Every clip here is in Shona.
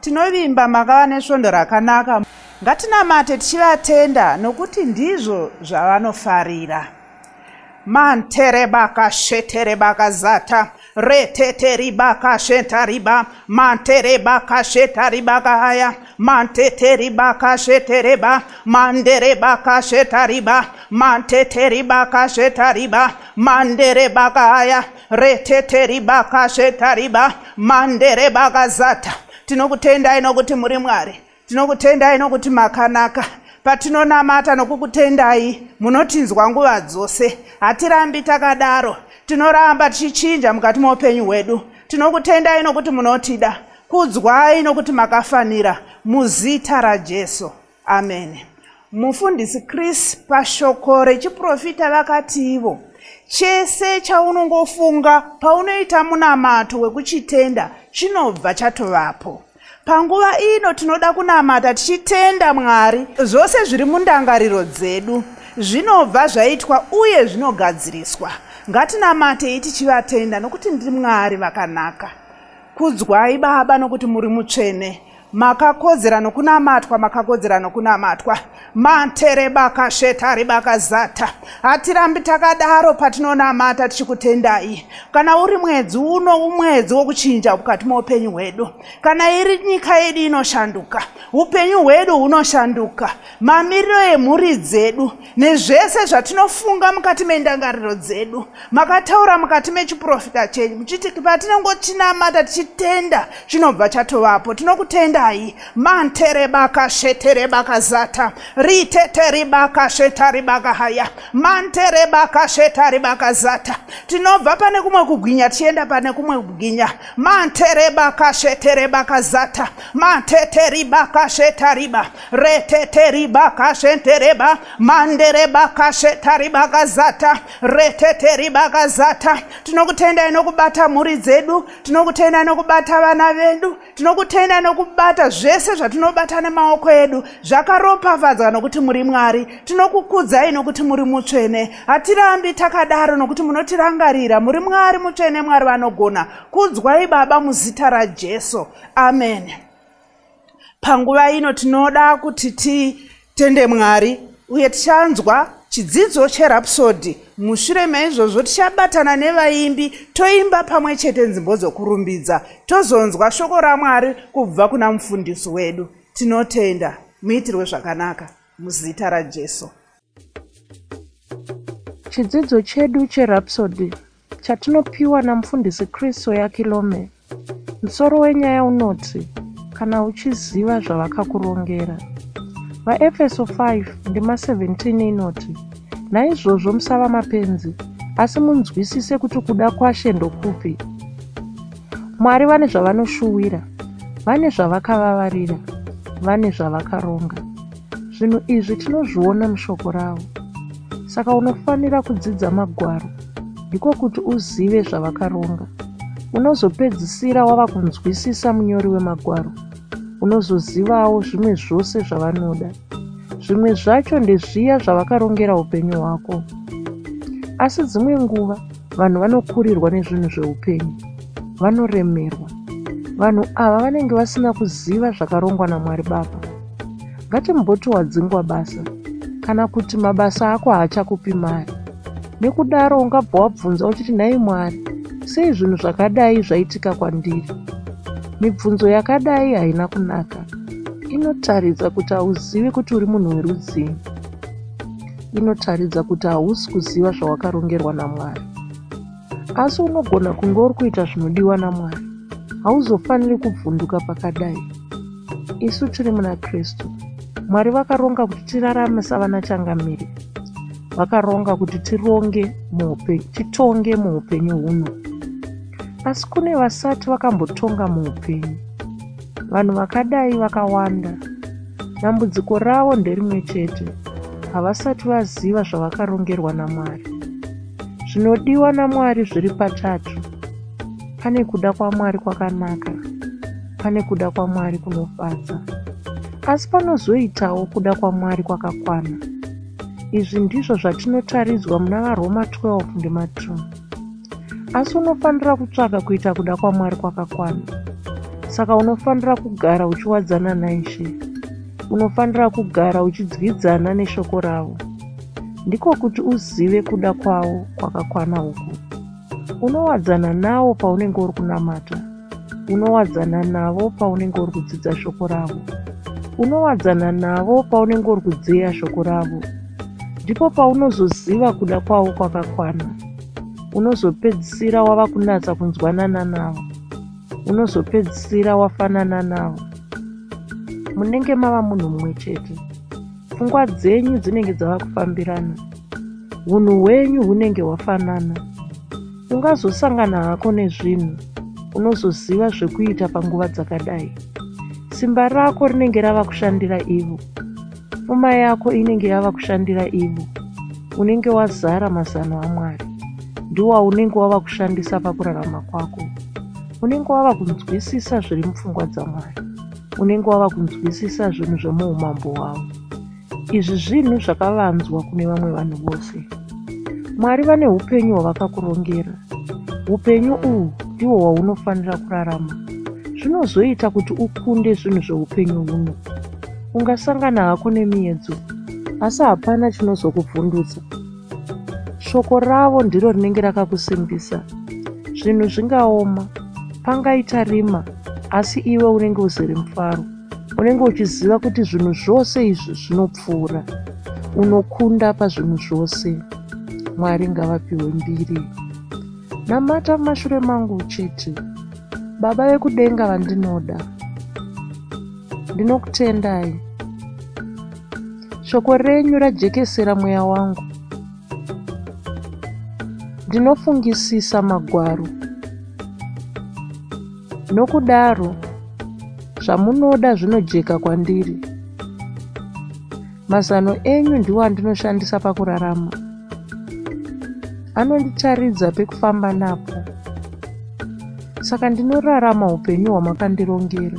Tinovimba makava nesvondo rakanaka. Ngatinamate tichivatenda nokuti ndizvo zvavanofarira. Mantere baka shetere baka zata retete ribaka sheta riba mantere baka sheta ribaka haya mantete ribaka shete reba mandere baka sheta riba mantete ribaka sheta riba mandere baka haya retete ribaka zvetariba mande rebaka zata tinokutendai nokuti muri mwari tinokutendai nokuti makanaka patinonamata nokukutendai munotinzwa nguva dzose hatirambi takadaro tinoramba tichichinja mukati moupenyu hwedu tinokutendai nokuti munotida kudzwai nokuti makafanira muzita rajesu amen mufundisi chris pashoko rechiprofita vakati ivo chese chaunongofunga paunoita munamato wekuchitenda chinobva chatovapo panguva ino tinoda kunamata tichitenda mwari zvose zviri mundangariro dzedu zvinobva zvaitwa uye zvinogadziriswa ngatinamatei tichivatenda nokuti ndimwari vakanaka kudzwai baba nokuti muri mutsvene makakodzera nokunamatwa makakodzera nokunamatwa manterebakashetari bakazata hatirambi takadaro patinonamata tichikutendai kana uri mwedzi uno umwedzi wokuchinja mukati moupenyu hwedu kana iri nyika yedu inoshanduka upenyu hwedu hunoshanduka mamiriro emhuri dzedu nezvese zvatinofunga mukati mendangariro dzedu makataura mukati mechiprofita chenyu muchiti patinongochinamata tichitenda chinobva chatovapo tinokutendai manterebakasheterebakazata riteteribakashetaribakahaya manterebakashetaribakazata tinobva pane kumwe kugwinya tichienda pane kumwe kugwinya manterebakasheterebakazata mateteribakashetariba reteteribakashentereba manderebakashetaribakazata reteteribakazata tinokutendai nokubata mhuri dzedu tinokutendai nokubata vana vedu tinokutendai nokubata zvese zvatinobata nemaoko edu zvakaropafadzwa nokuti muri mwari tinokukudzai nokuti muri mutsvene hatirambi takadaro nokuti munotirangarira muri mwari mutsvene mwari vanogona kudzwai baba muzita rajesu amen panguva ino tinoda kuti titende mwari uye tichanzwa chidzidzo cherapsodi mushure meizvozvo tichabatana nevaimbi toimba pamwe chete nzimbo dzokurumbidza tozonzwa shoko ramwari kubva kuna mufundisi wedu tinotenda muitirwe zvakanaka muzita rajesu Chidzidzo chedu cheRhapsody chatinopiwa namufundisi Chris Oyakilome, musoro wenyaya unoti kana uchiziva zvavakakurongera. VaEfeso 5 ndima 17 inoti, Naizvozvo musava mapenzi, asi munzwisise kuti kuda kwaShe ndokupi. Mwari vane zvavanoshuwira, vane zvavakavavarira, vane zvavakaronga. Zvinhu izvi tinozviona mushoko ravo. Saka unofanira kudzidza magwaro, ndiko kuti uzive zvavakaronga. Unozopedzisira wava kunzwisisa munyori wemagwaro, unozozivawo zvimwe zvose zvavanoda. Zvimwe zvacho ndezviya zvavakarongera upenyu hwako. Asi dzimwe nguva vanhu vanokurirwa nezvinhu zveupenyu, vanoremerwa. Vanhu ava vanenge vasina kuziva zvakarongwa naMwari Baba. ngatimboti wadzingwa basa kana kuti mabasa ako haachakupi mari nekudaro ungabva wabvunza uchiti nhai mwari sei zvinhu zvakadai zvaitika kwandiri mibvunzo yakadai haina kunaka inotaridza kuti hauzivi kuti uri munhu werudzii inotaridza kuti hausi kuziva zvawakarongerwa namwari asi unogona kunge uri kuita zvinodiwa namwari hauzofaniri kubvunduka pakadai isu tiri muna kristu mwari vakaronga kuti tirarame savana changamire vakaronga kuti tironge muupenyu titonge muupenyu huno asi kune vasati vakambotonga muupenyu vanhu vakadai vakawanda dambudziko ravo nderimwe chete havasati vaziva zvavakarongerwa namwari Zvinodiwa naMwari zviri patatu. Pane kuda kwaMwari kwakanaka, pane kuda kwaMwari kunofadza, asi panozoitawo kuda kwaMwari kwakakwana. Izvi ndizvo zvatinotaridzwa muna vaRoma 12 ndima 2. Asi unofanira kutsvaga kuita kuda kwaMwari kwakakwana. Saka unofanira kugara uchiwadzana naIshe. Unofanira kugara uchidyidzana neshoko ravo. ndiko kuti uzive kuda kwavo kwakakwana uku unowadzana nawo paunenge uri kunamata unowadzana navo paunenge uri kudzidza shoko ravo unowadzana navo paunenge uri kudzeya shoko ravo ndipo paunozoziva kuda kwavo kwakakwana unozopedzisira wava kunatsa kunzwanana navo unozopedzisira wafanana navo munenge mava munhu mumwe chete pfungwa dzenyu dzinenge dzava kufambirana hunhu hwenyu hunenge hwafanana ungazosangana hako nezvinhu unozoziva zvekuita panguva dzakadai simba rako rinenge rava kushandira ivo pfuma yako inenge yava kushandira ivo unenge wazara mazano amwari ndiwaunenge wava kushandisa pakurarama kwako unenge wava kunzwisisa zviri mupfungwa dzamwari unenge wava kunzwisisa zvinhu zvemuumambo hwavo izvi zvinhu zvakavanzwa kune vamwe vanhu vose mwari vane upenyu hwavakakurongera upenyu uhwu ndiwo hwaunofanira kurarama zvinozoita kuti ukunde zvinhu zveupenyu huno ungasangana hako nemiyedzo asi hapana chinozokuvhundutsa shoko ravo ndiro rinenge rakakusimbisa zvinhu zvingaoma pangaita rima asi iwe unenge uzere mufaro unenge uchiziva kuti zvinhu zvose izvi zvinopfuura unokunda pazvinhu zvose mwari ngavapiwe mbiri namata mumashure mangu uchiti baba vekudenga vandinoda Ndinokutendai. Shoko renyu rajekesera mweya wangu. Ndinofungisisa magwaro. Nokudaro, zvamunoda zvinojeka kwandiri. Mazano enyu ndiwo andinoshandisa pakurarama. Anonditaridza pekufamba napo. Saka ndinorarama upenyu hwamakandirongera.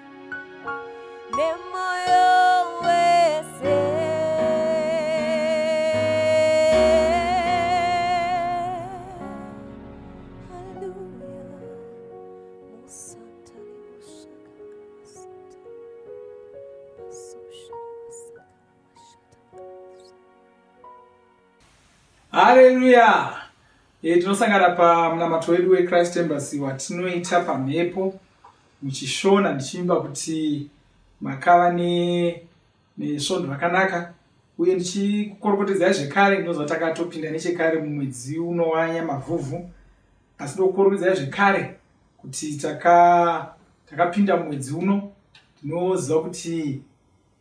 haleluya e, tinosangana pamunamato wedu wechrist embassy watinoita pamhepo muchishona ndichiimba kuti makava nesvondo rakanaka uye ndichikorokotedzai zvekare ndinoziva takatopinda nechekare mumwedzi unowanya mavhuvhu asi ndokukorokedzai zvekare kuti takapinda mumwedzi uno ndinoziva kuti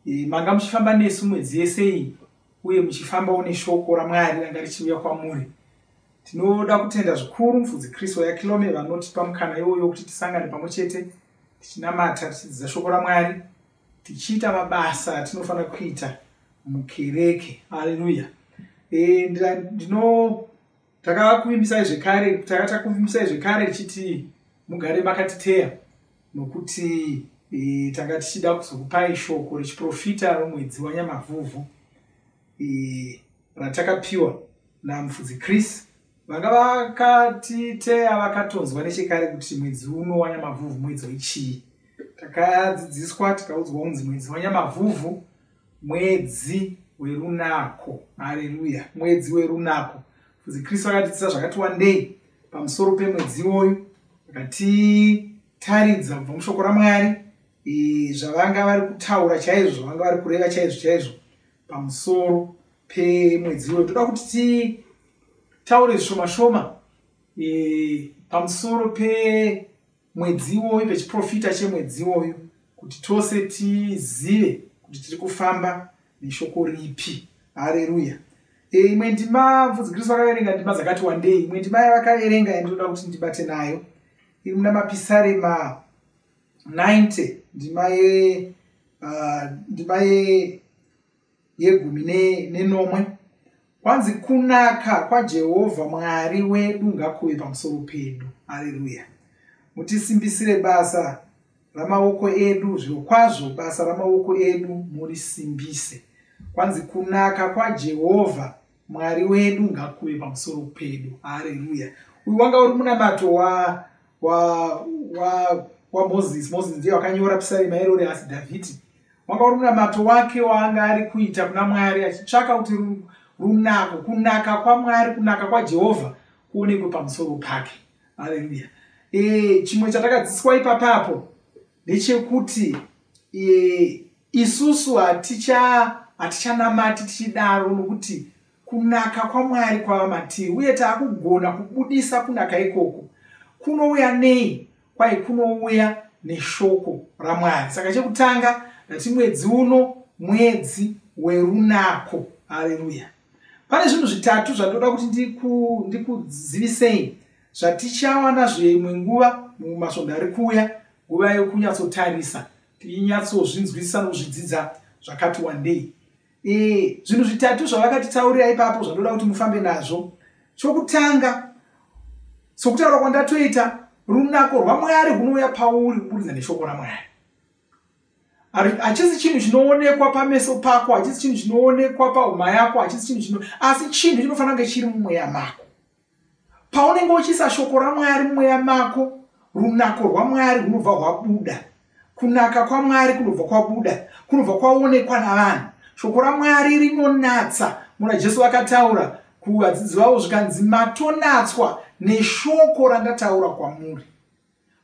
eh, manga muchifamba nesu mwedzi yese iyi uye muchifamba une shoko ramwari ranga richiuya kwamuri tinoda kutenda zvikuru mufudzi kristu yakilome vanotipa mukana iwoyo wekuti tisangane pamwe chete tichinamata tichidzidza shoko ramwari tichiita mabasa atinofanira kuita mukereke haleluya e, ndinoda takakuvimbisai zvekare taka takuvimbisai zvekare tichiti mugare makatiteya nokuti e, tanga tichida kuzokupai shoko rechiprofita romwedzi wanyamavhuvhu e, ratakapiwa namufudzi chris vanga vakatiteya vakatonzwa nechekare kuti mwedzi uno wanyamavhuvhu mwedzi wechii takadzidziswa tikaudzwa kunzi mwedzi wanyamavhuvhu mwedzi werunako haleluya mwedzi werunako fuzi kristu akatidzisa zvakati wandei pamusoro pemwedzi iwoyu akatitaridza kubva mushoko ramwari zvavanga vari kutaura chaizvo zvavanga vari kureva chaizvo chaizvo pamusoro pemwedzi iwoyo toda kuti titaure zvishoma shoma pamusoro pe mwedzi iwoyu pechiprofita chemwedzi iwoyu kuti tose tizive kuti tiri kufamba neshoko ripi hareruya e, imwe ndima mfudzi kristu vakaverenga ndima dzakati wandei imwe ndima yavakaverenga yandinoda kuti ndibate nayo iri muna mapisarema 90 ndima ye uh, ndima ye yegumi nenomwe ne kwanzi kunaka kwajehovha mwari wedu ngakuve pamusoro pedu aleluya mutisimbisire basa ramaoko edu zviro kwazvo basa ramaoko edu murisimbise kwanzi kunaka kwajehovha mwari wedu ngakuve pamusoro pedu hareruya uyu wanga uri munamato wa wa wa wamoses moses ndiye wakanyora pisarema iro ri asi dhavhidhi wanga uri munamato wake waanga ari kuita kuna mwari achitsvaka kuti runako kunaka kwamwari kunaka kwajehovha kuonekwe pamusoro pake hareruya e, chimwe chatakadzidziswa ipapapo ndechekuti e, isusu hatichanamati tichidaro nokuti kunaka kwamwari kwava matiri uye taakugona kubudisa kunaka ikoko kunouya nei kwai kunouya neshoko ramwari saka chekutanga ndati mwedzi uno mwedzi werunako hareruya pane zvinhu zvitatu zvandoda kuti ndikuzivisei zvatichawana zveimwe nguva mumasvondo ari kuuya nguva yokunyatsotarisa tinyatsozvinzwisisa nokuzvidzidza zvakati wandei ee zvinhu zvitatu zvavakatitaurira ipapo zvandoda kuti mufambe nazvo chokutanga sokutaura kwandatoita runako rwamwari rwunouya pauri kuburidza neshoko ramwari hachisi chinhu chinoonekwa pameso pako hachisi chinhu chinoonekwa pahuma yako hachisi chinhu chino asi chinhu chinofanira kunge chiri mumweya mako paunenge uchiisa shoko ramwari mweya mako runako rwamwari runobva rwabuda kunaka kwamwari kunobva kwabuda kunobva kwaonekwa navanhu shoko ramwari rinonatsa muna jesu vakataura kuvadzidzi vavo zvikanzi matonatswa neshoko randataura kwamuri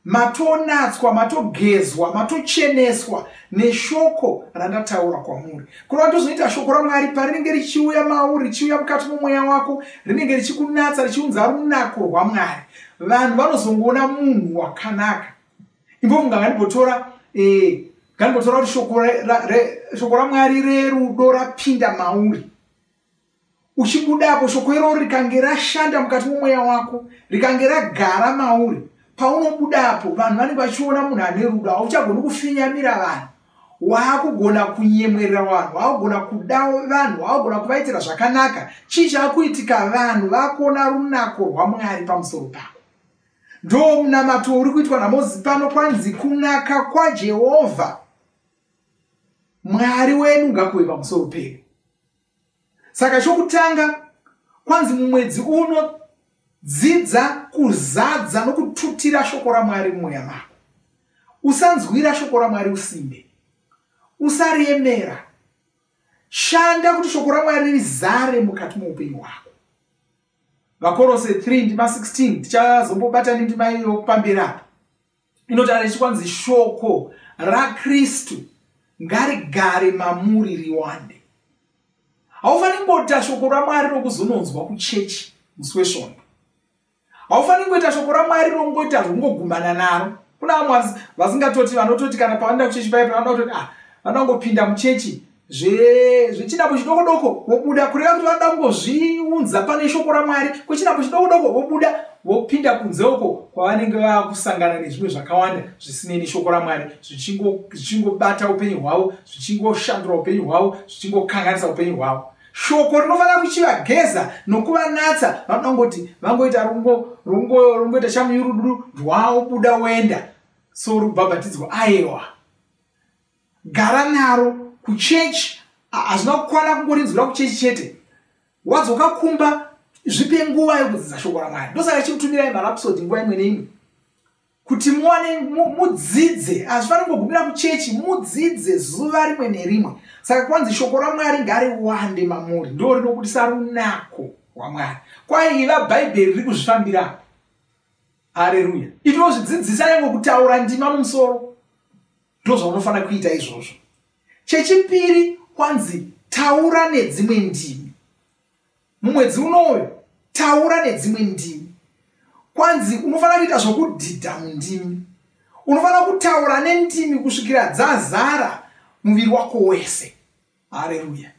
matonatswa matogezwa matocheneswa neshoko randataura kwamuri kureva tozoita shoko ramwari parinenge richiuya mauri richiuya mukati momweya wako rinenge richikunatsa richiunza runako rwamwari vanhu vanozongoona munhu wakanaka imbofunga ngandibotora eh, ngandibotora kuti shoko ramwari rerudo rapinda mauri uchibudapo shoko iroro rikange rashanda mukati momweya wako rikange ragara mauri paunobudapo vanhu vanenge vachiona munhu ane rudo hauchagoni kufinyamira vanhu waakugona kunyemwerera vanhu waakugona kuda vanhu waakugona kuvaitira zvakanaka chii chaakuitika vanhu vakuona runako rwamwari pamusoro pako ndo munamato uri kuitwa namozi pano kwanzi kunaka kwajehovha mwari wenu ngakuve pamusoro pedu saka chokutanga kwanzi mumwedzi uno dzidza kuzadza nokututira shoko ramwari mumweya mako usanzwira shoko ramwari usimbe usariemera shanda kuti shoko ramwari rizare mukati moupenyu hwako vakorose 3 ndima 16 tichazombobata nendima iyo pamberi apo inotaura ichi kwanzi shoko rakristu ngarigare mamuri riwande haufaniri kungoita shoko ramwari rokuzononzwa kuchechi musi wesvondo haufaniri kungoita shoko ramwari rongoita rongogumana naro kuna vamwe vasingatoti vanototi kana pavanoda kuchechi paye pavanoda kutoti ah vanoda kungopinda muchechi zvechinako chidoko doko vobuda kureva kuti vanoda kungozviunza pane shoko ramwari kwechinako chidoko doko vobuda vopinda kunze uko kwavanenge vava kusangana nezvimwe zvakawanda zvisinei neshoko ramwari zvichingobata upenyu hwavo zvichingoshandura upenyu hwavo zvichingokanganisa upenyu hwavo shoko rinofanira kuchivageza nokuvanatsa vanoda kungoti vangoita rungoita chamuyurudu rwaobuda woenda sorubhabhatidzwa aewa gara naro kuchechi hazvina kukwana kungorinzwira kuchechi chete wadzoka kumba zvipe nguva yokudzidza shoko ramwari ndosaka chikutumirai marapsodi nguva imwe neimwe kuti muwane mudzidze hazvifaniri kugumira kuchechi mudzidze zuva rimwe nerimwe saka kwanzi shoko ramwari ngariwande mamuri ndo rinokudisa runako rwamwari kwaiva bhaibheri riri kuzvifambira hareruya itinozvidzidzisa yange kutaura ndima mumusoro ndozvaunofanira kuita izvozvo chechipiri kwanzi taura nedzimwe ndimi mumwedzi unouyu taura nedzimwe ndimi kwanzi unofanira kuita zvokudhidha mundimi unofanira kutaura nendimi kusvikira dzazara muviri wako wese hareruya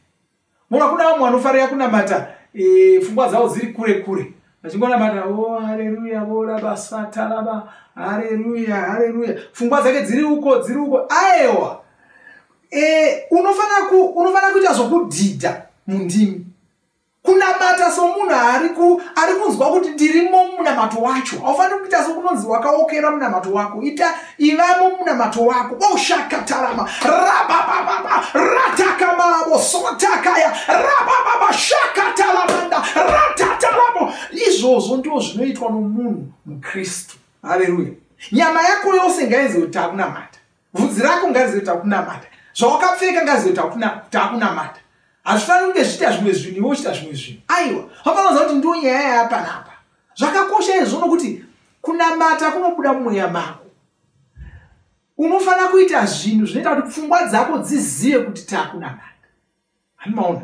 mona kuna vamwe vanofarira kunamata e, fungwa dzavo dziri kure kure vachingonamata o oh, hareruya voraba sataraba hareruya hareruya fungwa dzake dziri uko dziri uko aewa e, unofanira kuita zvokudhidha mundimi kunamata somunhu ari ku ari kunzwa kuti ndirimo munamato wacho haufaniri kuita sokunonzi wakaokera munamato wako ita ivamo munamato wako oshakatarama rababababa ratakamavo sotakaya rabababa shakatalamanda ratataramo izvozvo ndiwo zvinoitwa nomunhu mukristu haleluya nyama yako yose ngainzi kuti takunamata vhudzi rako ngarizive kuti takunamata zvawakapfeka ngarizive kuti takunamata hazvifaniri kunge zvichiita zvimwe zvinhu iwe uchiita zvimwe zvinhu aiwa vafanoza kuti ndiwo nyaya yapanapa zvakakosha izvo nokuti kunamata kunobuda mumweya mako unofanira kuita zvinhu zvinoita kuti pfungwa dzako dzizive kuti takunamata hanimaona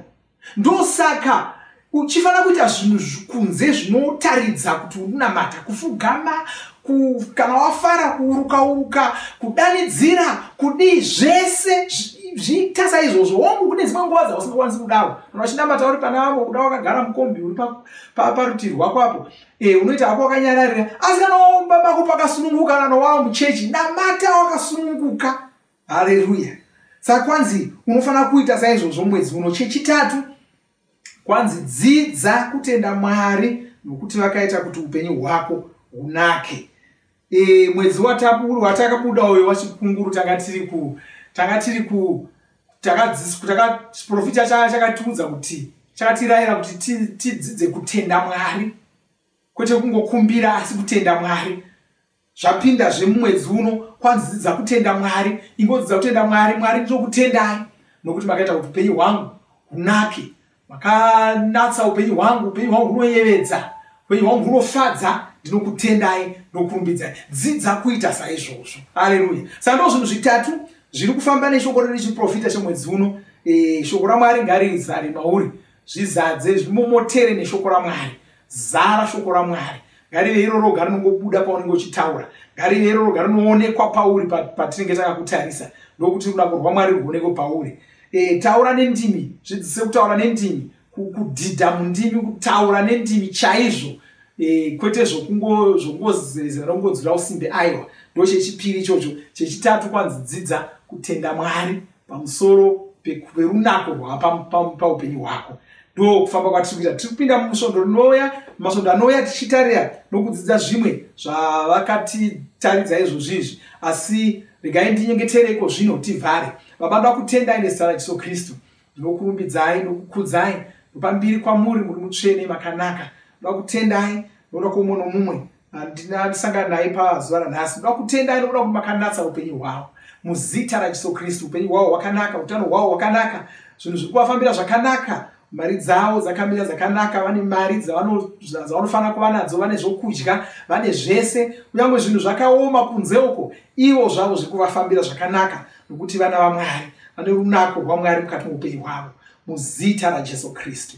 ndosaka uchifanira kuita zvinhu kunze zvinotaridza kuti unamata kufugama ku, kana wafara kuuruka uruka kudanidzira kudii zvese zviita saizvozvo wongu kune dzimwe nguva dzausingakwanisi kudaro kana uchinamata uri pana vamwe kuda wakagara mukombi uri parutivi pa, pa rwako apo e, unoita hako wakanyararira asi kana waomba bako pakasununguka kana wawa muchechi namata wakasununguka haleruya saka kwanzi unofanira kuita saizvozvo mwedzi uno chechitatu kwanzi dzidza kutenda mwari nokuti vakaita kuti upenyu hwako hunake e, mwedzi watakabuda uyo wachikunguru tanga tiri ku tanga tiri ku takaprofita taka, chakatiudza taka kuti chakatirayira kuti tidzidze kutenda mwari kwete kungokumbira asi kutenda mwari zvapinda zvemumwedzi uno kwanzi dzidza kutenda mwari ingodzidza kutenda mwari mwari ndinokutendai nokuti makaita kuti upenyu hwangu hunake makanatsa upenyu hwangu upenyu hwangu hunoyevedza upenyu hwangu hunofadza ndinokutendai nokurumbidzai dzidza kuita saizvozvo aleluya saka ndo zvinhu zvitatu zviri kufamba neshoko redu chiprofita chemwedzi uno e, shoko ramwari ngarizare mauri zvizadze zvimomotere neshoko ramwari zara shoko ramwari ngarive iro roga rinongobuda paunenge uchitaura ngarive iro roga rinoonekwa pauri patinenge takakutarisa ndokuti ruda kurwa mwari rwuonekwe pauri e, taura nendimi zvidzise kutaura nendimi kudhidha mundimi kutaura nendimi chaizvo e, kwete zvokungozerezera nokungodzura usimbe aiwa ndo chechipiri ichocho chechitatu kwanzi dzidza kutenda mwari pamusoro perunako rwapaupenyu hwako ndo kufamba kwatiri kuita tiri kupinda musvondo rinouya masvondo anouya tichitarira nokudzidza zvimwe zvavakatitaridza izvozvi izvi asi regai ndinyengetere iko zvino tivhare baba da kutendai nezita rajesu kristu ndinokurumbidzai nokukudzai ndopambiri kwamuri muri mutsvene makanaka da kutendai noda kwoumwe nomumwe handina ndisangana naye pazuva ranhasi ndoda kutenda nekuda kuti makanatsa upenyu hwavo muzita rajesu kristu upenyu hwavo hwakanaka utano hwavo hwakanaka zvinhu zviri kuvafambira zvakanaka mari dzavo dzakamira dzakanaka vane mari dzavanofanira kuva nadzo vane zvokudya vane zvese kunyange zvinhu zvakaoma kunze uko ivo zvavo zviri kuvafambira zvakanaka nokuti vana vamwari vane runako rwamwari mukati moupenyu hwavo muzita rajesu kristu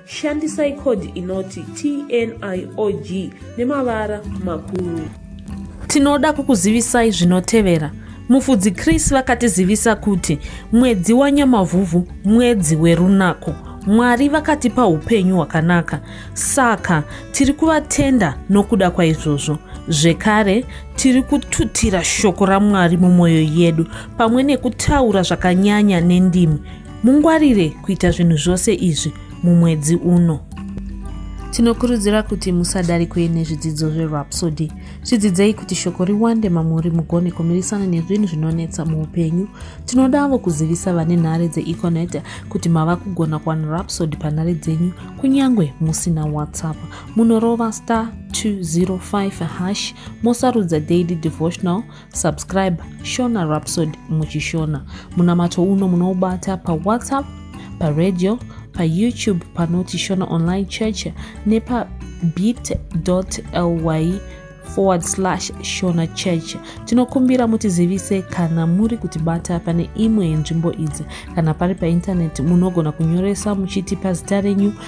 Shandisai code inoti TNIOG nemavara makuru. Tinoda kukuzivisai zvinotevera. Mufudzi Chris vakatizivisa kuti mwedzi waNyamavhuvhu mwedzi werunako. Mwari vakatipa upenyu hwakanaka. Saka tiri kuvatenda nokuda kwaizvozvo. Zvekare, tiri kututira shoko raMwari mumwoyo yedu pamwe nekutaura zvakanyanya nendimi. Mungwarire kuita zvinhu zvose izvi mumwedzi uno. Tinokurudzira kuti musadarikwe nezvidzidzo zverhapsody. Zvidzidzei kuti shoko riwande mamuri mugone kumirisana nezvinhu zvinonetsa muupenyu. Tinodavo kuzivisa vane nhare dzeeconet kuti mava kugona kuwana rhapsody panhare dzenyu kunyange musina whatsapp. Munorova star 205 hash mosarudza daily devotional subscribe shona rhapsod muchishona munamato uno munoubata pawhatsapp paradio payoutube panoti shona online church nepabit ly forward slash shona church tinokumbira mutizivise kana muri kutibata pane imwe yenzvimbo idzi kana pari paintaneti munogona kunyoresa muchitipa zita renyu